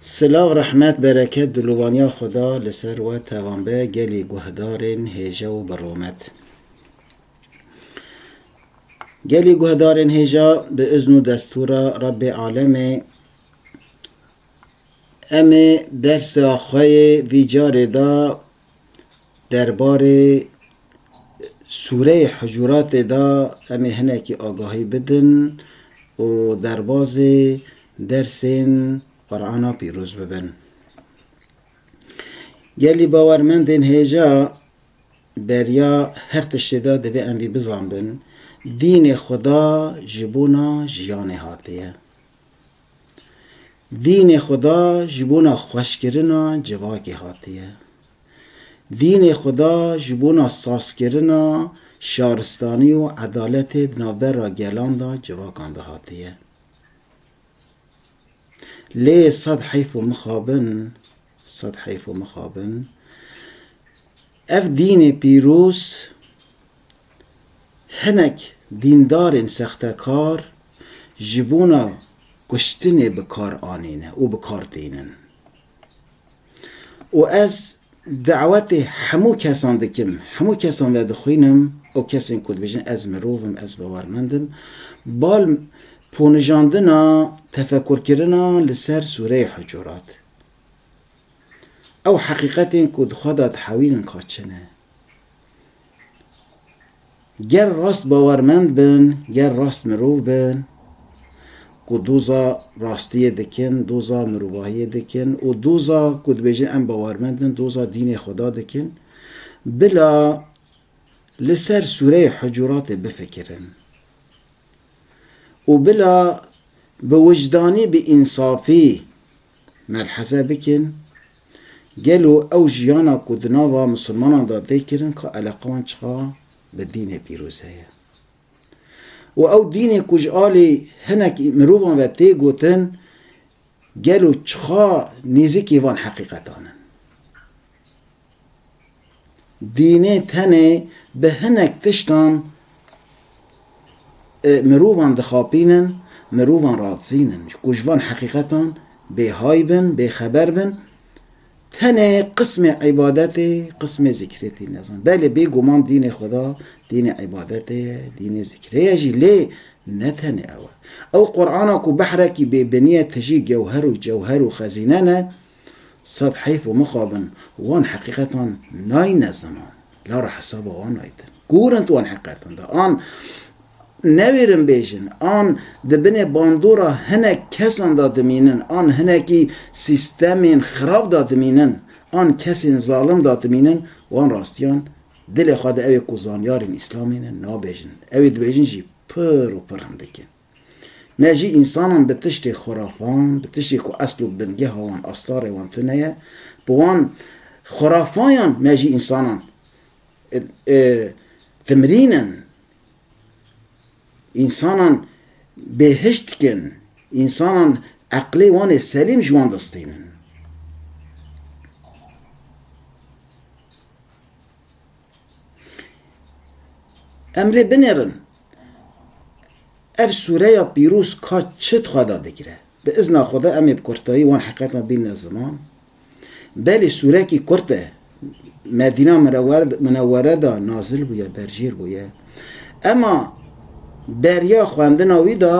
Silav rehmet bereket dilûvaniya Xweda li ser we tevan be gelî guhdarên hêja û bi rûmet. Gelî guhdarên hêja bi izn û destûra Rebbê Alemê em ê dersa xwe yê vî carê de Derbarê sûreyê Hucuratê de em ê hinekî agahî bidin û derbazê dersên Qur'ana pîroz bibin. Gelî bawermendên hêja beriya her tiştê de divê em vî bizanbin, Dînê Xweda ji bona jiyanê hatiye. Dînê Xweda ji bona xweşkirina civakê hatiye. Dînê Xweda ji bona sazkirina şaristanî û edaletê di navbera gelan de civakan de hatiye. Lê sed heyf û mixabin, sed heyf û mixabin, ev dînê pîroz hinek dîndarên sextekar ji bona kuştinê bi kar anîne û bi kar tînin. Û ez dawetê hemû kesan dikim, hemû kesan vedixwînim û kesên ku dibêjin ez mirov im, ez bawermend im, bal ponijandina tefekurkirina li ser sûreyê hucurat. Ew heqîqetên ku di xwe de dihewînin ka çi ne. Ger rast bawermend bin, ger rast mirov bin ku doza rastiyê dikin, doza mirovahiyê dikin û doza ku dibêjin em bawermend in, doza dînê Xweda dikin, bila li ser sûreyê Hucuratê bifikirin û bila bi wijdanî, bi însafî melheze bikin Gelo ew jiyana ku di nava misilmanan de tê kirin ka eleqa wan çiqa bi dînê pîroz heye û ew dînê ku ji alî hinek mirovan ve tê gotin gelo çiqa nêzîkê van heqîqetan in? Dînê tenê bi hinek tiştan mirovan dixapînin, mirovan radizînin ku ji van heqîqetan bêhay bin, bêxeber bin. Tenê qismê îbadetê, qismê zîkrê tî nezan. Belê bêguman dînê xweda, dînê îbadetê ye, dînê zîkrê ye jî lê ne tenê ew e. Ew Qur'ana ku behrekî bêbinî ye tijî gewher û cewher û xezîne ne, Sed heyf û mixabin wan heqîqetan nayne ziman, lara hesaba wan aytin. Kûr in tu wan heqîqetan de? An newêrin bêjin, an di binê bandora hinek kesan de dimînin, an hinekî sîstemên xirab de dimînin, an kesên zalim de dimînin, wan rastiyan dilê xwe de ewê ku zanyarên îslamê ne nabêjin, ewê dibêjin jî pir û pir hindik in. Ne jî însanan bi tiştê xurafan, bi tiştê ku esl û bingeha wan astarê wan tune ye, bi wan xurafayan ne jî însanan timrîn in. Însanan bêhişt dikin, însanan eqlê wan ê selîm ji wan distînin. Em lê binêrin. Ev sûreya pîroz ka çi dixwe da digire? Bi izna Xweda em ê bi kurtayî wan heqetan bînine ziman. Belê sûrekî kurt e. Medîna Minewere de nazil bûye, berjêr bûye. Ema beriya xwendina wî de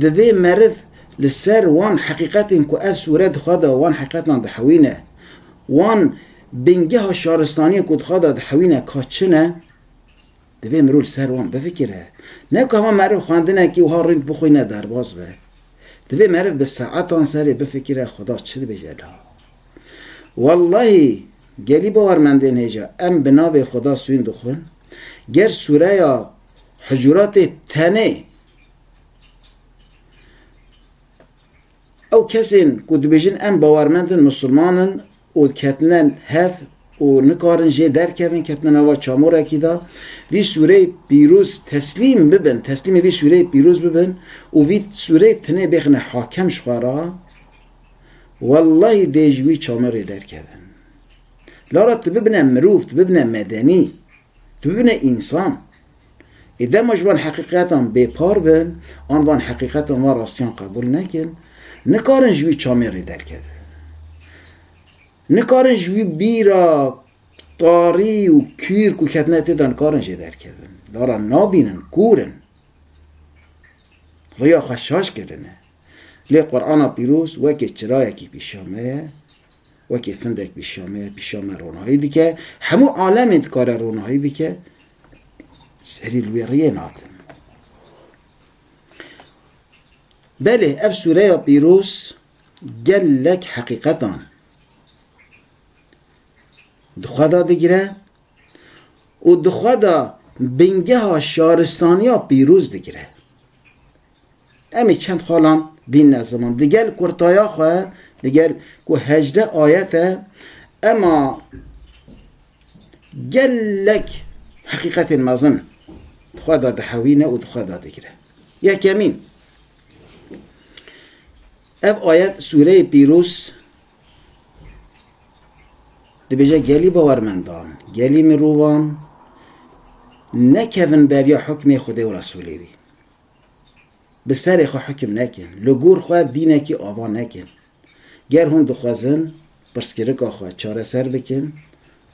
divê meriv li ser wan heqîqetên ku ev sûre dixwe da wan heqetan dihewîne, wan bingeha şaristaniyên ku dixwe da dihewîne ka çi ne, Divê mirov li ser wan bifikire. Ne ku hema meriv xwendinekî wiha rînd bixwîne derbas be. Divê meriv bi saetan serê bifikire Xweda çi dibêje li ha. Wellahî gelî bawer mendên hêja em bi navê Xweda sûyn dixwin, ger sûreya Hucuratê tenê Ew kesên ku dibêjin em bawermend in, misilman in û ketine hev û nikarin jê derkevin, ketine nava çamorekî de, vî sûreyê pîroz teslîm bibin, teslîmê vî sûreyê pîroz bibin û vî sûreyê tenê bêxine hakem ji xwe re, wellahî dê ji wî çamorê derkevin. Lara tu bibine mirov, tu bibine medenî. Tu bibîne însan. Ê dema ji van heqîqetan bêpar bin an van heqîqetan van rastiyan qebûl nekin, nikarin ji wî çamên rê derkevin. Nikarin ji wî bîra tarî û kûr ku ketine tê de nikarin jê derkevin. Lara nabînin, kûr in. Riya xwe şaş kirine. Lê Qur'ana Pîroz wekî çirayekî pîşa me ye wekî findek pîşame pîşame ronahî dike, hemû alemê dikare ronahî bike, serî li wê riyê nake. Belê ev sûreya pîroz gelek heqîqetan di xwe de digire û di xwe de bingeha şaristaniya pîroz digire. Em ê çend xalan bînine ziman. Digel kurtaya xwe, digel ku hejdeh ayet e, ema gelek heqîqetên mezin di xwe de dihewîne û di xwe de digire. Yekemîn, ev ayet sûreyê pîroz dibêje gelî bawermendan, gelî mirovan nekevin beriya hukmê Xwedê û Resûlê wî. bi serê xwe hikm nekin, li gor xwe dînekî ava nekin. Ger hûn dixwezin pirsgirika xwe çareser bikin,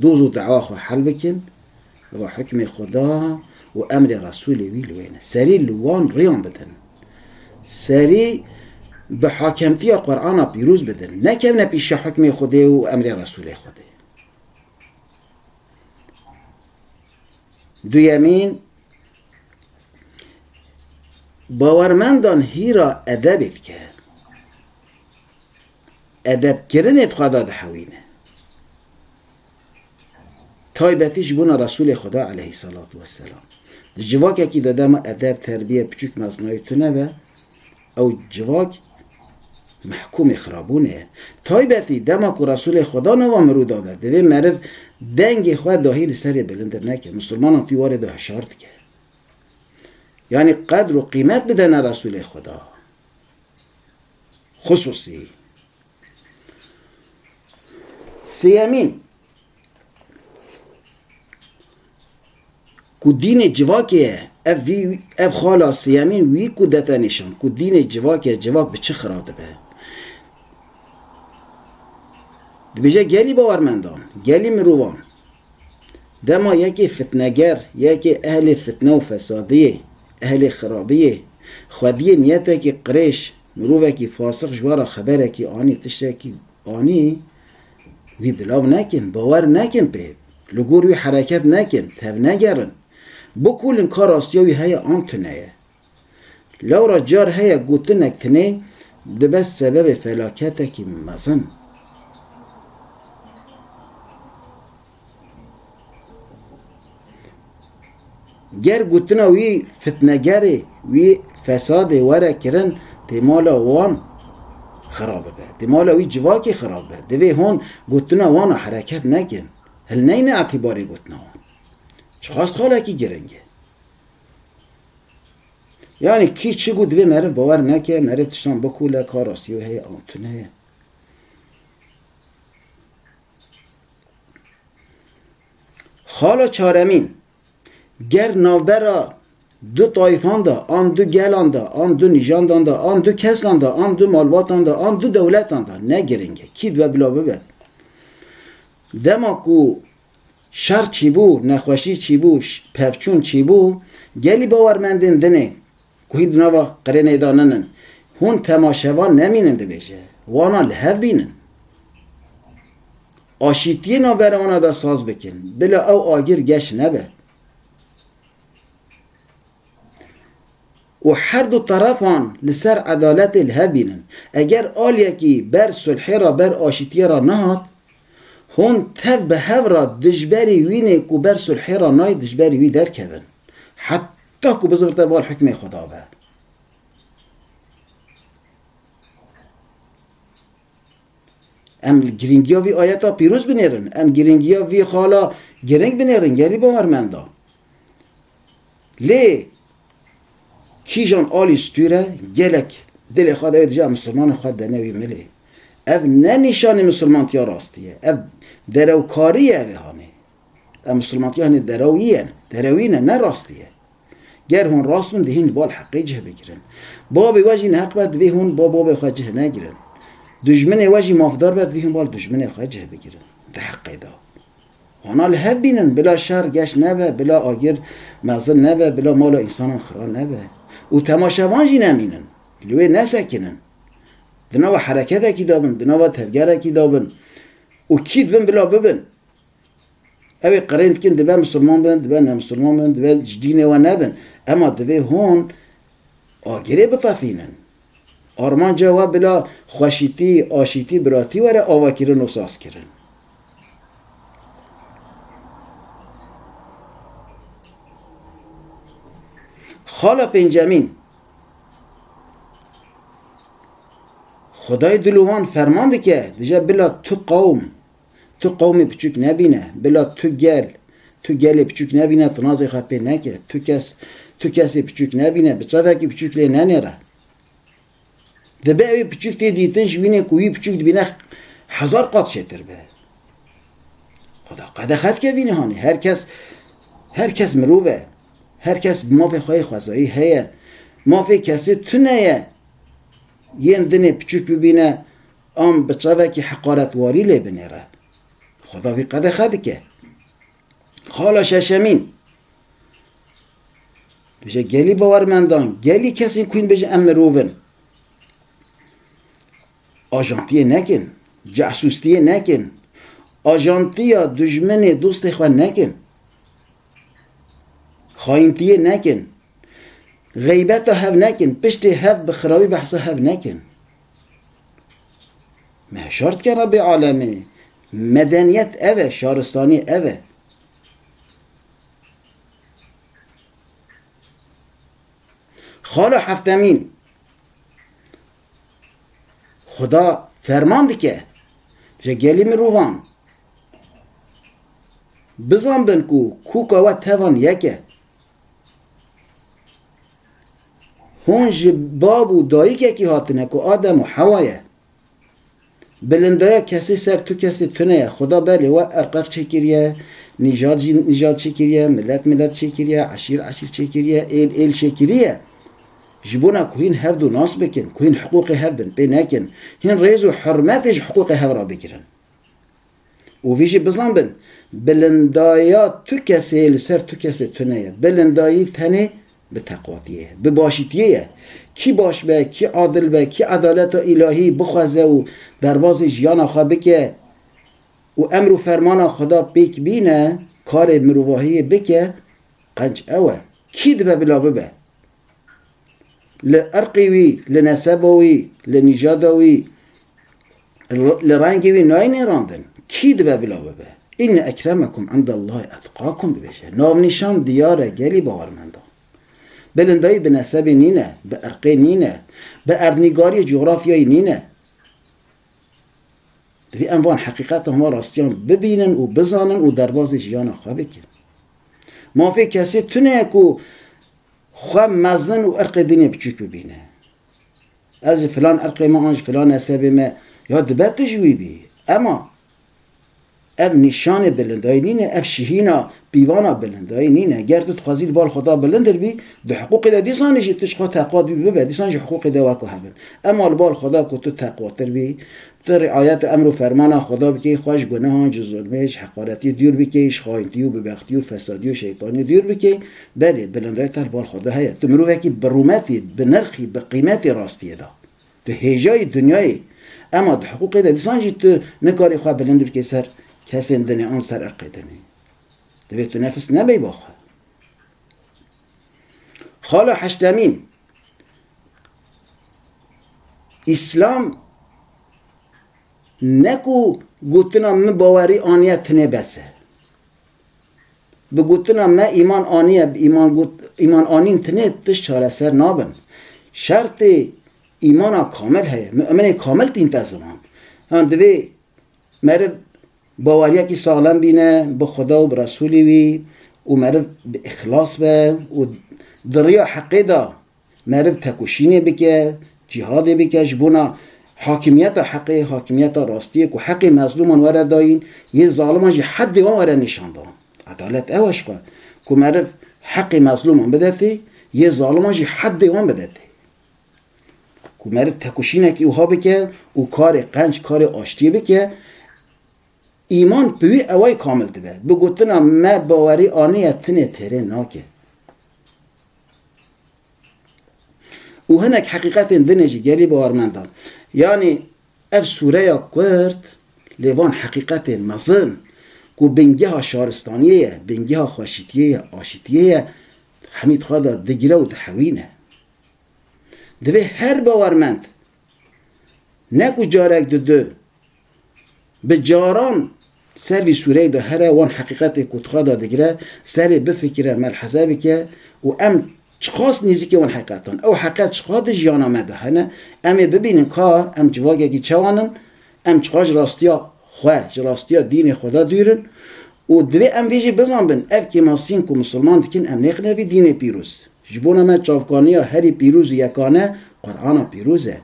doz û dewa xwe hel bikin, eva hikmê Xuda û emrê Resûlê wî li wê ne. Serî li wan rêyan bidin. Serî bi hakemtiya Qur'ana pîroz bidin. Nekevne pîşa hikmê Xwedê û emrê Resûlê Xwedê. Duyemîn. Bawermendan hîra edebê dike. Edebkirinê di xwe de dihewîne. Taybetî ji bona Resûlê Xweda eleyhî selatû weselam. Di civakekî de dema edeb, terbîye, piçûk nasnayî tune be, Ew civak mehkûmê xirabûnê ye. Taybetî dema ku Resûlê Xweda nava mirû dabe, divê meriv dengê xwe dahî li serê bilindir neke, misilmanan tî warê de hişar dike. Yanî qedr û qîmet bidene Resûlê Xweda. Xusûsî. Sêyemîn, Ku dînê civakê ye, ev vî ev xala Siyemîn wî ku dete nîşan ku dînê civakê ye civak bi çi xira dibe. Dibêje gelî bawermendan, gelî mirovan dema yekê fitneger, yekê ehlê fitne û fesadiyê, ehlê xirabiyê, xwediyê niyetekî qirêj, mirovekî fasix ji we re xeberekî anî, tiştekî anî, Wî bilav nekin, bawer nekin pê, li gor wî hereket nekin, tevnegerin. Bikulin ka rastiya wî heye an tune ye. Lewra car heye gotinek tunê dibe sebebê felaketekî mezin. Ger gotina wî fitnegerê, wî fesadê were kirin tê mala wan xira bibe, tê mala wî civakê xira bibe, divê hon gotina wan a hereket nekin, hilneyne etîbarê gotina wan. Çiqas xalekî giring e. Yanî kî çi got divê meriv bawer neke, meriv tiştan bikole ka rastî yo heye an tune ye. Xala çaremîn, ger navbera du tayfan de an du gelan de an du nîjandan de an du kesan de an du malbatan de an du dewletan de ne girîng e kî dibe bila bibe. Dema ku şer çîbû, nexweşî çîbû, pevçûn çîbû, gelî bawermendên din ê Ku hîn di nava qirêneyê de nin in. Hûn temaşevan nemînin dibêje. Wana li hev bînin. Aşîtiyê navbera wana de saz bikin. Bila ew agir geş nebe. Û her du terefan li ser edaletê li hev bînin. Eger aliyekî ber sulhê re, ber aşîtiyê re nehat, hûn tev bi hev re dijberî wînê ku ber sulhê re nayê dijberî wî derkevin. Heta Ta ku bizirte bar hikmê xwe dabe. Em li girîngiya vî ayeta pîroz binêrin. Em girîngiya vî xala giring binêrin gelî bawermenda. Lê kîjan alî stûre gelek dilê xwe dewê dije misilmanên xwe dene wî milê. Ev ne nîşanê misilmantiya rastî ye. Ev derewkarî ye vêhanê. Ev misilmantiyanê derewî ye, derewî ne, ne rastî ye. Ger hûn rast bin dihîn li bal heqê cih bigirin. Babê we jî neheq be divê hûn ba babê xwe cih negirin. Dijminê we jî mafdar be divê hûn ba li dijminê xwe cih bigirin di heqê de. Wana li hev bînin bila şer geş nebe, bila agir mezin nebe, bila mala însanan xira nebe. Û temaşevan jî nemînin. Li wê nesekinin. Di nava hereketekî de bin, di nava tevgerekî de bin. Û kî dibin bila bibin. Ew ê qirên dikin dibe misilman bin, dibe nemisilman bin, dibe ji dînê we nebin. Ema divê hûn agirê bitefînin. Armanca we bila xweşîtî, aşîtî, biratî were avakirin û sazkirin. Xala pêncemîn. Xwedayê dil û wan ferman dike, dije bila tu qewm Tu qewmê piçûk nebîne, bila tu gel, tu gelê piçûk nebîne, tu nazê xwe pê neke, tu kes, tu kesê piçûk nebîne, bi çavekî piçûk lê nenêre. Dibe ewê piçûk tê dîtin ji wînê ku wî piçûk dibîne hezar qat çêtir be. Xweda qedexe dike vînê hanê. Her kes, her kes mirov e. Her kes bi mafê xwe yê xwezayî heye. Mafê kesê tune ye. Yên dinê piçûk bibîne, Em bi çavekî heqaretwarî lê binêre. Xweda wî qedexe dike. Xala şeşemîn, dibêje gelî bawermendan, gelî kesên ku hîn dibêjin em mirov in, ajantiyê nekin, cahsûstiyê nekin, ajantiya dijminê dostê xwe nekin, xayintiyê nekin, xeybeta hev nekin, piştê hev bi xirawî behsa hev nekin. Me şar dike Rebê Alemî. Medeniyet ev e, şaristanî ev e. Xala Heftemîn Xuda ferman dike ji gelî mirovan bizanbin ku kûka we tevan yek e. Hûn ji bab û dayîkekî hatine ku Adem û Hewa ye. Bilindaya kesî ser tu kesî tune ye. Xuda belê we erqeq çêkiriye, nîjad jî nîjad çêkiriye, milet milet çêkiriye, eşîr eşîr çêkiriye, êl êl çêkiriye. Ji bona ku hîn hev du nas bikin, ku hîn hiqûqê hev bin pê nekin, hîn rêz û hurmetê ji hiqûqê hev re bigirin. Û vî jî bizanbin, bilindaya tu kesê li ser tu kesê tune ye. Bilindayî tenê bi teqwatiyê ye, bi başîtiyê ye. Kî baş be, kî adil be, kî edaleta îlahî bixweze û derbazê jiyana xwe bike û emr û fermana Xweda pêk bîne, karê mirovahiyê bike, qenc ew e. Kî dibe bila bibe? li irqê wî, li neseba wî, li nîjada wî, li rengê wî nayê nêrandin. Kî dibe bila bibe? Înne ekremekum indellahî etqakum dibêje. Navnîşan diyar e gelî bawermendan. Bilin dayî bi nesebê nîne, bi irqê nîne, bi erdnîgariyê cografyayî nîne. Divê em van heqîqeta hema rastiyan bibînin û bizanin û derbazê jiyana xwe bikin. Mafê kesê tune ye ku Xwe mezin û irqê din ê biçûk bibîne. Ez ji filan irqê me an ji filan nesebê me ya dibe tu ji wî bî. Ema ev nîşanê bilindayî nîne, ev şihîna pîvana bilindayî nîne. Ger tu dixwazî li bal Xweda bilindir bî, di hiqûqê de dîsanî jî tu ji xwe teqwat bî bibe, dîsan jî hiqûqê de wek hev in. Ema li bal Xweda ku tu teqwatir bî, Tu riayet û emr û fermana Xweda bikî, xwe ji gunehan, ji zulmê, ji heqaretî dûr bikî, ji xayintî û bibextî û fesadî û şeytanî dûr bikî, belê, bilindayî te li bal xwe de heye. Tu mirovekî bi rûmetî, bi nirxî, bi qîmetî rastiyê de. Tu hêjayî dinyayê yî. Ema di hiqûqê de dîsan jî tu nikarî xwe bilind bikî ser kesên dinê an ser irqê dinê. Divê tu nefis nebeyba xwe. Xala Heştemîn, Îslam ne ku gotina min bawerî aniye tenê bes e. Bi gotina me îman aniye, îman anîn tenê tişt çareser nabin. Şertê îmana kamil heye, muminê kamil tîn te ziman. Yan divê meriv Baweriyekî saxlem bîne bi Xweda û bi Resûlê wî û meriv bi îxlas be û di riya heqê de meriv tekoşînê bike, cîhadê bike ji bona hakimiyeta heqê, hakimiyeta rastiyê ku heqê mezlûman were dayîn, yên zaliman jî heddê wan were nîşandan. Edalet ew e ji xwe ku meriv heqê mezlûman bide tê, yê zaliman jî heddê wan bide tê. Ku meriv tekoşînekî wiha bike û karê qenc karê aştiyê bike, îman bi wî ewayî kamil dibe. Bi gotina me bawerî aniye tinê têrê nake. Û hinek heqîqetên din ê jî gelî bawermendan. Yanî ev sûreya Kurd lê van heqîqetên mezin ku bingeha şaristaniyê ye, bingeha xweşikiyê ye, aşitiyê ye, hemî di xwe de digire û dihewîne. Divê her bawermend ne ku carek di du bi caran ser vî sûreyê de here wan heqîqetê ku dixwe da digire serê bifikire melheze bike û em çiqas nêzîkê wan heqîqetan ew heqîqet çiqas di jiyana me de hene em ê bibînin ka em civakekî çewan in em çiqas ji rastiya xwe ji rastiya dînê xwe de dûr in û divê em vê jî bizanbin ev kêmasiyên ku misilman dikin em nêxine vî dînê pîroz. Ji bona me çavkaniya herî pîroz û yekane Qur'ana pîroz e.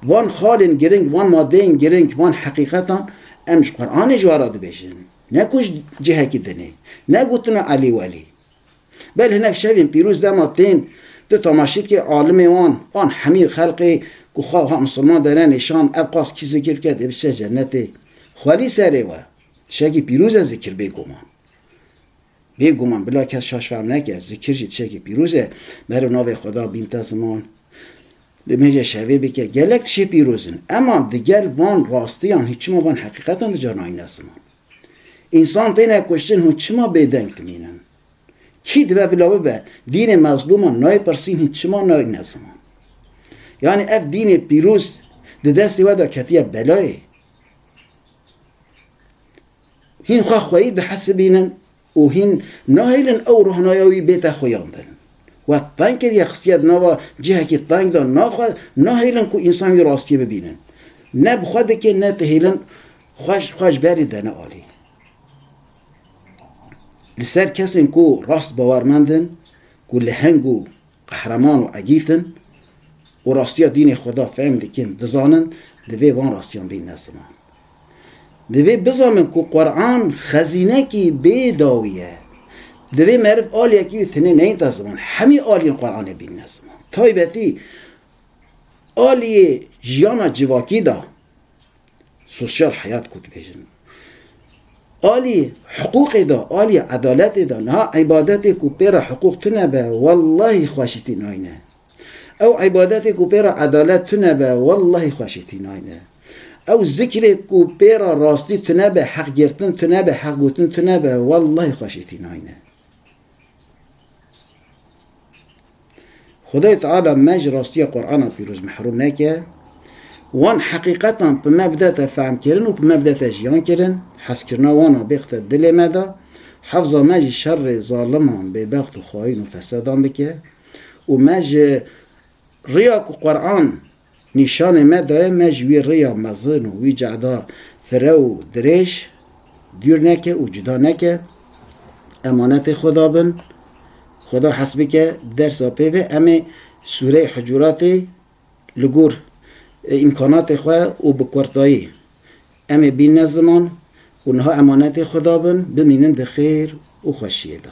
Van xalên giring, van madeyên giring, van heqîqetan em ji Qur'anê ji we re dibêjin. Ne ku ji cihekî dinê. Ne gotin û elî welî. Bel hinek şevên pîroz dema tên, tu tamaşîkê alimê wan, wan hemî xelqê ku xwe wiha misilman dere nîşan, ev qas kî zikir bike dê biçe cenetê. Xwelî serê we. Tişekî pîroz e zikir bêguman. Bê guman bila kes şaş fehm neke, zikir jî tişekî pîroz e, meriv navê Xweda bînta ziman, nimêje şevê bike, gelek tişê pîroz in. Ema digel van rastiyan hûn çima van heqîqetan dicarnayîne ziman? Însan têne kuştin hûn çima bêdeng dimînin? Kî dibe bila bibe? Dînê mezlûman nayê pirsîn hûn çima nayîne ziman? Yanî ev dînê pîroz di destê we de ketiye belayê? Hîn xwe xweyî dihesibînin û hîn nahêlin ew rohnaya wî bête xuyan din. We teng kiriye xistiye di nava cihekî teng de naxwe nahêlin ku însan wî rastiyê bibînin. Ne bi xwe dikê ne dihêlin xwe ji berî dene alî. Li ser kesên ku rast bawermend in, ku leheng û qehreman û egît in û rastiya dînê xwe da fehm dikin, dizanin, divê van rastiyan bîn ne ziman. Divê bizanin ku Qur'an xezînekî bê dawî ye. Divê meriv aliyekî wî tenê neyînta ziman. Hemî aliyên Qur'anê bînine ziman. Taybetî aliyê jiyana civakî da, sosyal heyat ku dibêjin. Alî hiqûqê da, alî edaletê da, niha îbadetê ku pê re hiqûq tune be, wellahî xweşîtî nayne. Ew îbadetê ku pê re edalet tune be wellahî xweşî tînayne. Ew zikrê ku pê re rastî tune be, heq girtin tune be, heq gotin tune be wellahî xweşî tînayne. Xwedayê Teala me ji rastiya Qur'ana pîroz mehrûm neke. Wan heqîqetan bi me bidete fehmkirin û bi me bidete jiyankirin. Hezkirina wan a bixte dilê me de. Hefza me ji şerê zaliman, bêbext û xayîn û fesedan dike. Û me ji riya ku Quran nîşanê me daye, me ji wî riya mezin û wî cehda fire û dirêj dûr neke û cuda neke, emanetê Xweda bin, Xweda hes bike, dersa pêve em ê sûreyê Hucuratê li gor îmkanatê xwe û bi kurtayî em ê bînne ziman û niha emanetê Xweda bin, bimînin di xêr û xweşiyê de.